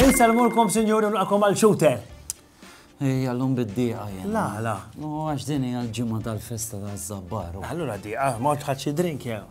Insalmulkom, sinjuri, naqom għal xute. Ej, għallum bid-diqa jena. La, la. No, għax dini għal-ġimma tal-festa tal-zabbaru. Allura diqa, ma tħadxi drink jew.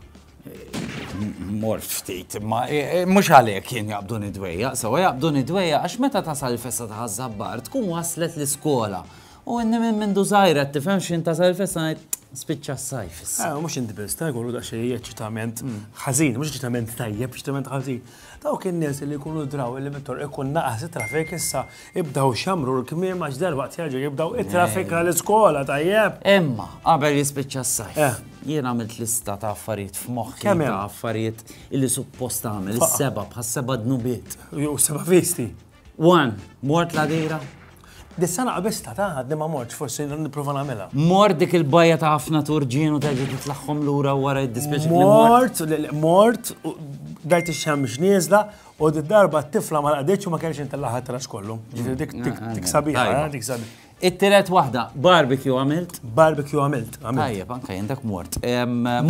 Mort ftit, ma e, e, mhux għalhekk jien jaqbdu nidwejja, sewa jaqbdu nidwejja għax meta tasal il-festa ta' ħażabbar tkun waslet l-iskola. U inni minn minn dużajra tifhem x'in tasal il-festa ngħid spiċċa s-sajf. Eh, mhux inti biss, ta' jkollu daqsxejn eċċitament ħażin, mhux eċċitament tajjeb, eċċitament ħażin. Dawk in-nies li jkunu draw li mit-toroq ikun naqas it-traffic issa ibdaw xamru l-kmiem għax darbaqt jerġgħu jibdaw it-traffic għal iskola tajjeb. Imma qabel jispiċċa s-sajf. Eh. Jien għamilt lista ta' affarijiet f'moħħi ta' affarijiet li suppost għamel is-seba' bħas-seba' dnubiet. Jew seba' visti. One, mort la dira. Dis-sena qabista ta' għadni ma mortx, forsi niprofa nagħmilha. Mort dik il-bajja ta' ħafna turġien u terġa' titlagħhom lura wara id-dispeċi. Mort, mort, dajt ix-xem x'nieżla u d-darba t-tifla ma laqditx u ma kellx intillaħat tras kollu. Ġifieri dik dik ah, ah, sabiħa, eh, dik sabiħa. It-tiret waħda, barbecue għamilt? Barbecue għamilt, għamilt. Tajjeb, anka jendak mort.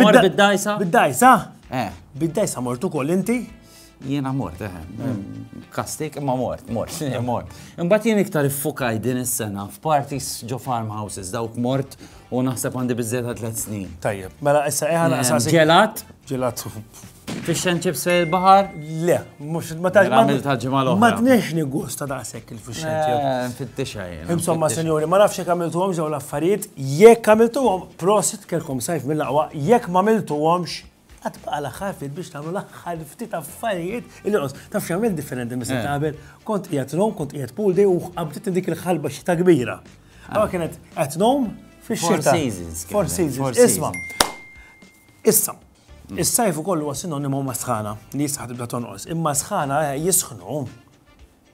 Mort bid-dajsa? Bid-dajsa? Eh. Bid-dajsa mortu koll inti? Jiena mort, eh, kastik, ma mort, mort, mort. Imbat jien iktar iffukaj din is-sena f'parties ġo farmhouses dawk mort u naħseb għandi bizzeta tliet snin. Tajjeb, mela issa eħan eh, għasasi. Ġelat? Ġelat. Fish and chips fej il-bahar? Le, mux ma taġ. Mela, Għamil taġ mal Ma tnex nigusta daqsek il-fish and chips. Eh, Fittixha jena. Insomma, senjori, ma nafx jek għamiltu għom ġew l-affarijiet, jek għamiltu għom, prosit kelkom sajf mill-laqwa, jek ma għamiltu għomx, Għad baqa' l-aħħar ftit biex tagħmlu l-aħħar ftit affarijiet li qos. Taf x'għamil differenti mis ta' qabel, kont qiegħed nom, kont qiegħed pool day u qabdiet dik il-ħalba xita kbira. Għawa kienet qed nom fix-xita. Four seasons. Isma. Issa, is-sajf ukoll huwa sinonimu ma' sħana li jisħaq tibda tonqos. Imma sħana eh, jisħnu.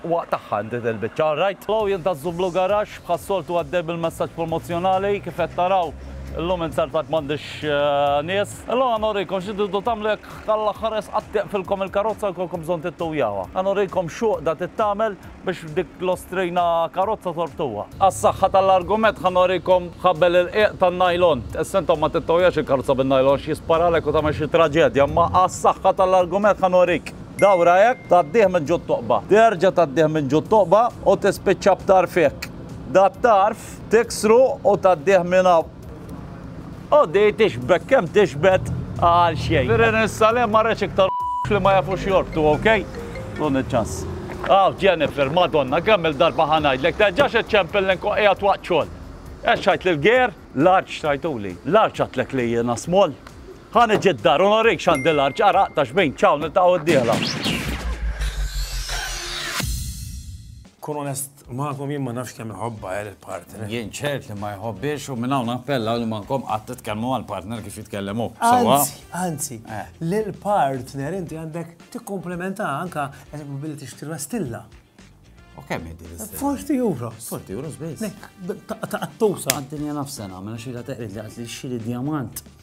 Waqt tagħha inti dil-biċċa, all right? Lou jien ta' Zublu Garage, bħas-soltu għaddej bil-messaġġ promozzjonali, kif qed taraw illum inzertajt m'għandix nies. Illum ħa nurikom xi tridu tagħmlu jekk għall-aħħar esqat tiqfilkom il-karozza u jkollkom bżonn tittujawha. Ħa nurikom x'għuqda titgħamel biex dik l-ostrina karozza torbtuha. Għas-saħħa tal-argument ħa nurikom ħabel irqiq tan-nylon. Issa intom ma tittojax il-karozza bin-nylon għax jisparalek u tagħmel xi traġedja, imma għas-saħħa tal-argument ħa nurik. Dawra hekk, tgħaddih minn ġutt toqba. Terġa' tgħaddih minn ġutt toqba u tispiċċa b'tarf hekk. Dat-tarf tiksru u tgħaddih minn hawn. U di tixbek kemm tixbet għal xejn. Firin issa le marretx iktar f' li ma jafux jorbtu, ok? Tuni ċ-ċans. Aw, Jennifer, Madonna, kemm-il darba ħa ngħidlek, terġax iċċempel li nkun qiegħed waqt xogħol. Hekk x'għidt lill-ger? Large tajtuli. Large għidtlek li jiena small. Ħa niġi d-dar u nurrik x'għandi l-għarġ għaraq ta' xbin. Ciao, niltaqgħu d-dieħla. Kun onest magħkom jien ma nafx kemm iħobbha eh, lill-partner. Jien ċert li ma jħobbiex u minn hawn nappella li mankom qatt titkellmu mal-partner kif jitkellem hu. Sewwa? Anzi, anzi, Eh. lill-partner inti għandek tikkomplementa anka eżempju billi tixtri pastilla. U kemm jiddi l-istess? 40 euro. 40 euros biss. Nek, ta' tusa. Għad-dinja nafsena, mela xira teqrid li għad li xiri diamant.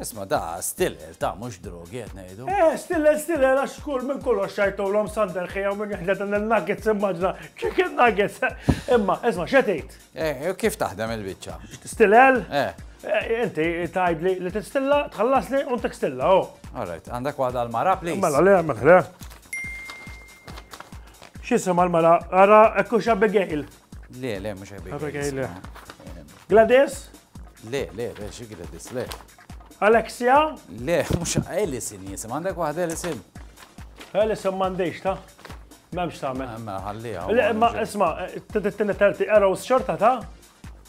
Isma' da stillel ta' mhux drogi qed ngħidu. Eh, stillel stillel għax kull minn kollox xajtulhom sander ħija minn jħded dan il-nuggets immaġna chicken nuggets. Imma, isma' x'qed tgħid? Eh, kif taħdem il-biċċa? Stillel? Eh. eh. Inti tgħidli li tistilla, tħallasni u ntik stilla, oh. All right, għandek waħda l-mara, please. Mela le, mela le. X'isem għal-mara? Ara, ekku x'Abigail. Le, le, mux Abigail. Gladys? Le, le, le, xie Gladys, le. Alexia? Le, mux Alison jisim, għandek wahda Alison? Alison mandejx ta' memx ta' me. Ma ħallija. Le, ma isma, t-tina terti, arrows xorta ta'